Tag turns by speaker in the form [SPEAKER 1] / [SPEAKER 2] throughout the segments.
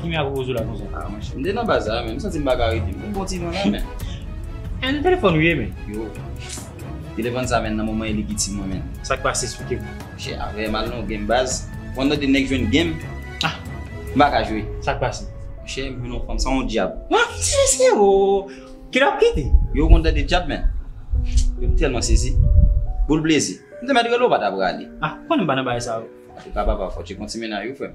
[SPEAKER 1] Kimi ak Rozo la konsa? Ah monchè, m te nan bazar
[SPEAKER 2] men, m santi m pa ka rete. M vin pran ti van la men. Anh nan
[SPEAKER 1] telefòn ou ye men? Yo.
[SPEAKER 2] Telefòn sa men nan moman e li ki ti mwen men. Sa k pase esplike m?
[SPEAKER 1] Monchè afè m al nan
[SPEAKER 2] yon game baz, pandan 2 nèg jwenn game, ah
[SPEAKER 1] m pa ka jwe.
[SPEAKER 2] Sa k pase? Monchè
[SPEAKER 1] m jwenn yon fanm
[SPEAKER 2] sa yon dyab. Anh ti mesye
[SPEAKER 1] oo, ki lè w ap kite? Yo ou konn tande dyab
[SPEAKER 2] men. Yo m tèlman sezi. Boul plezi. M te mèt rele w pa ta prale. Ah, konnen m pa nan bagay sa
[SPEAKER 1] yo. Antouka papa fòk ti
[SPEAKER 2] konti mennaj ou frè m.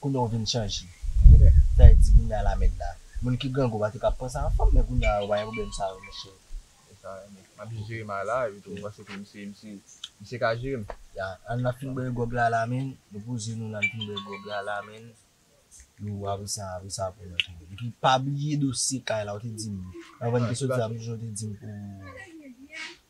[SPEAKER 3] Kounya w vin chanje. Ou ta di kounya la mèd la. Moun ki grangou pa te ka pran sa anfòm men kounya yo pa gen pwoblèm sa yo monchè. Se sa yo renmen.
[SPEAKER 4] Map jis jere may la epi tou m panse ke misye misye misye ka jere m. Ya an nap fin
[SPEAKER 3] bwè gwòg la la menn nou poze nou nan fin bwè gwòg la la menn. Yo apre sa apre sa pou nou tou. Epi pa bliye dosye kay la ou te di m anvan n te soti la m te di w pou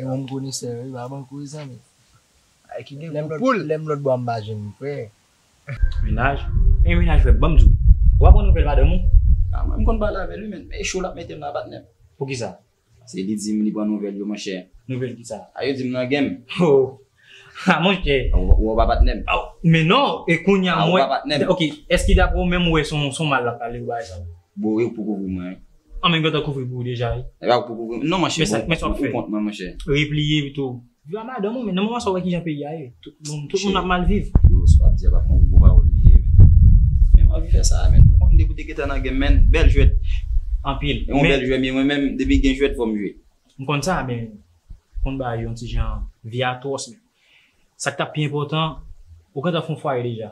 [SPEAKER 3] Yon moun konesè wi pa ban kouz zanmi. Lèm lòtbò a m pa janm prè. Menaj
[SPEAKER 1] e menaj frè banm di w. Ou pa pran nouvèl madanm ou? A mwen m konn pale
[SPEAKER 2] avè l wi men e cho l ap mete m nan patnè m. Poukisa?
[SPEAKER 1] Se li di m li
[SPEAKER 2] pran nouvèl yo monchè. Nouvèl kisa? A yo
[SPEAKER 1] di m nan game.
[SPEAKER 2] Ho!
[SPEAKER 1] Ha monchè. Ou wè pa patnèm.
[SPEAKER 2] Men non, e
[SPEAKER 1] kounya mwen. Ou pa patnèm. Ok, eske dapre ou menm ou wè son mal lap pale ou bagay sa yo? Bon e ou poko wè
[SPEAKER 2] mwen. An men gentan kouvri pou
[SPEAKER 1] ou deja
[SPEAKER 2] wi.
[SPEAKER 1] Epa ou
[SPEAKER 2] poko wè mwen. Non monchè
[SPEAKER 1] bon. Men sa wap fè. Ou kont
[SPEAKER 2] mwen monchè.
[SPEAKER 1] Repliye
[SPEAKER 2] pito.
[SPEAKER 1] Viv a madanm ou men nan moman sa ou wè kijan peyi a ye. Tout moun, tout moun ap mal viv. Yo sa wap di a pa fon
[SPEAKER 2] gwo pawòl li ye men. Men m anvi fè sa men. Ou konn depi w te gentan nan game men. Bèl jwèt. Anpil.
[SPEAKER 1] Yon bèl jwè men mwen menm
[SPEAKER 2] depi gen jwèt fò m jwe. M konn sa men
[SPEAKER 1] konn bay yon ti jan vi atwòs menm. Sak tap pi enpòtan ou gentan fon fwaye deja.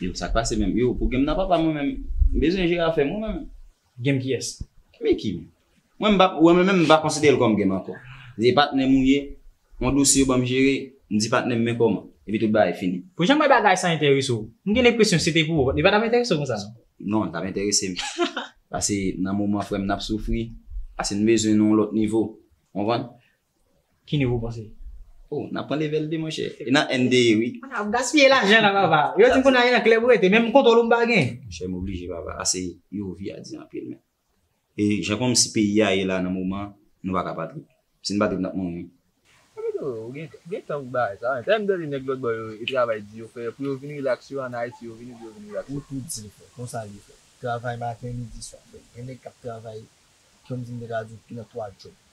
[SPEAKER 1] Yo sak pase
[SPEAKER 2] menm. Yo pou game nan papa mwen menm m bezwen jere afèm wi mwen menm. Game kiyès?
[SPEAKER 1] Micky
[SPEAKER 2] menm. Mwen menm m pa konsiderel kòm game ankò. Se patnèm ou ye Yon dosye yo ban m jere, m di patnè m men kòman, epi tout bagay fini. Pou jan m wè bagay sa
[SPEAKER 1] enterese w, m gen lenpresyon si se te pou ou, li pa t ap enterese w konsa non. Non, li t ap enterese
[SPEAKER 2] m. Pase nan moman frè m nan ap soufri, pase n bezwen nan yon lòt nivo. Ou konprann? Ki nivo ou
[SPEAKER 1] panse? O, n ap pran
[SPEAKER 2] level 2 monchè. E nan NDE wi. A, n ap gaspiye lajan
[SPEAKER 1] la papa. Yo di m konn al nan klèb ou rete, menm kontwòl ou m pa gen. Monchè m oblije papa,
[SPEAKER 2] pase yo vi a di anpil men. E jan komsi peyi a ye la nan moman nou pa ka pa trip. Si n pa trip n ap mouri. Epitou ou gen
[SPEAKER 4] gen tan pou bagay sa. Lè m tande nèg lòt bò yo e travay di yo fè pou yo vin rilaks yo an Ayiti yo vini pou yo vin rilaks. Ou tou di l frè, konsa
[SPEAKER 3] l ye frè. Travay maten, midi, swa frè. Gen nèg k ap travay komsi m te ka di w ki nan 3 djòb.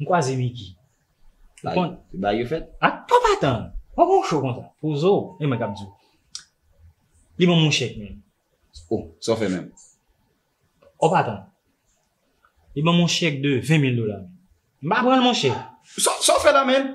[SPEAKER 1] M kwaze Micky. Ou konn.
[SPEAKER 2] Bagay yo fèt. Ak pa pa tann.
[SPEAKER 1] Ou gon cho konsa. Poze w. E mwen k ap di w. Li ban mwen chèk menm. Oh, sa w fè
[SPEAKER 2] menm? Ou
[SPEAKER 1] pa tann. Li ban mwen chèk de 20 mil dola menm. M pa pran l monchè. Sa w fè la menm?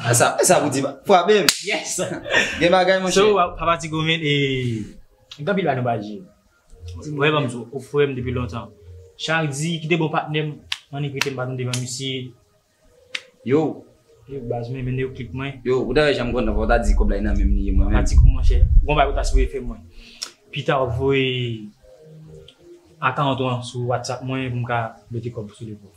[SPEAKER 2] Ah sa, sa pou di frape m. Yes!
[SPEAKER 1] Gen bagay monchè.
[SPEAKER 2] So a pa ti goumen e
[SPEAKER 1] gen anpil bagay nou pa di. Mwen banm zo ou frèm depi lontan. Chak di ki te bon patnèm an ni krite m baton devan misye. Yo.
[SPEAKER 2] Yo baz
[SPEAKER 1] mwen mende yo klik mwen. Yo ou ta wè janm kontan fò
[SPEAKER 2] ta di kòb la e nan menm li ye mwen menm. Pa ti gou monchè. Gon
[SPEAKER 1] bagay
[SPEAKER 2] ou ta
[SPEAKER 1] sipoze fè mwen. Pita ou voye akant ou an sou WhatsApp mwen pou m ka mete kòb sou li pou ou.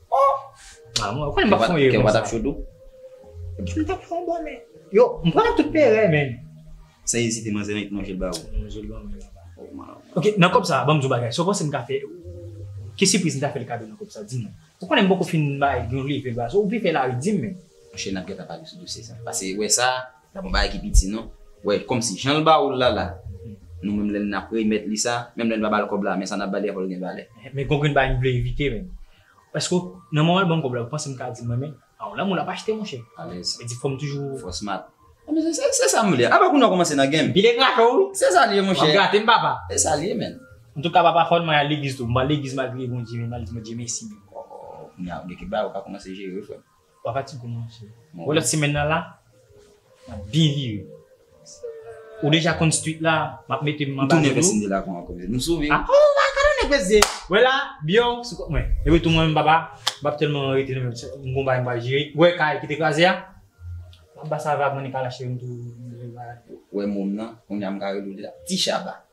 [SPEAKER 1] Ohh mwen konn map fon rirr konsa. Kèw pa tap cho tou?
[SPEAKER 2] Ebyen m tap
[SPEAKER 1] fon bonè. Yo m pran tout pere menn. San ezite
[SPEAKER 2] manzè nan manje l ba ou. Nan manje l ba mwen. Oh man.
[SPEAKER 1] Ok nan kòb sa banm di w bagay sa w panse m ka fè ki sipriz m ta fèl kado nan kòb sa di m. Ou konnen m poko fin bay yon leve l ba ou vle fè lari di m menn. Monchè nap gentan pale
[SPEAKER 2] sou dosye sa. Pase wè sa. Sa pa bagay ki piti non. Wè kòmsi jan l ba ou l la la, nou menm lè n ap remèt li sa, menm lè n pa ba l kòb la, men sa n ap ba li a fò l gen valè. Men gongon bagay m vle
[SPEAKER 1] evite menm. Èske w, nan moman l ban m kòb la, ou panse m ka di l mwen menm? A w la moun l ap achte monchè. Alèz. Sa vle di fò m toujou. Fò
[SPEAKER 2] w
[SPEAKER 1] smart. Anben
[SPEAKER 2] se, se sa m vle a. Apa kounye w kòmanse nan gen m? Pile kracho wi. Se
[SPEAKER 1] sa l ye monchè. W ap
[SPEAKER 2] grate m papa. Se sa
[SPEAKER 1] l ye menn.
[SPEAKER 2] Antouka papa fò n
[SPEAKER 1] mwen al legliz tou. M pa al legliz m al priye Bondye menm, m al di Bondye mèsi menm. Ohh, kounye a
[SPEAKER 2] gen kèk bagay ou ka kòmanse jere wi frè m. Papa ti gou
[SPEAKER 1] manje. Wè lòt semèn nan la nap byen vire. Ou
[SPEAKER 2] deja
[SPEAKER 1] konn street
[SPEAKER 2] la map
[SPEAKER 1] mete
[SPEAKER 2] m
[SPEAKER 1] anba dlo.
[SPEAKER 2] Nou
[SPEAKER 1] sove. Ah
[SPEAKER 2] oh
[SPEAKER 1] la
[SPEAKER 2] kado nèg vèzye.
[SPEAKER 1] Wè la biyò sou kòt mwen. Epi tou mwen menm papa map tèlman rete nan menm m gon bagay m pral jere. Wè kay ki te kraze a map ba sa vagabon li kalache m tou. Wè
[SPEAKER 2] mòm nan kounya m ka rele w deja ti chaba.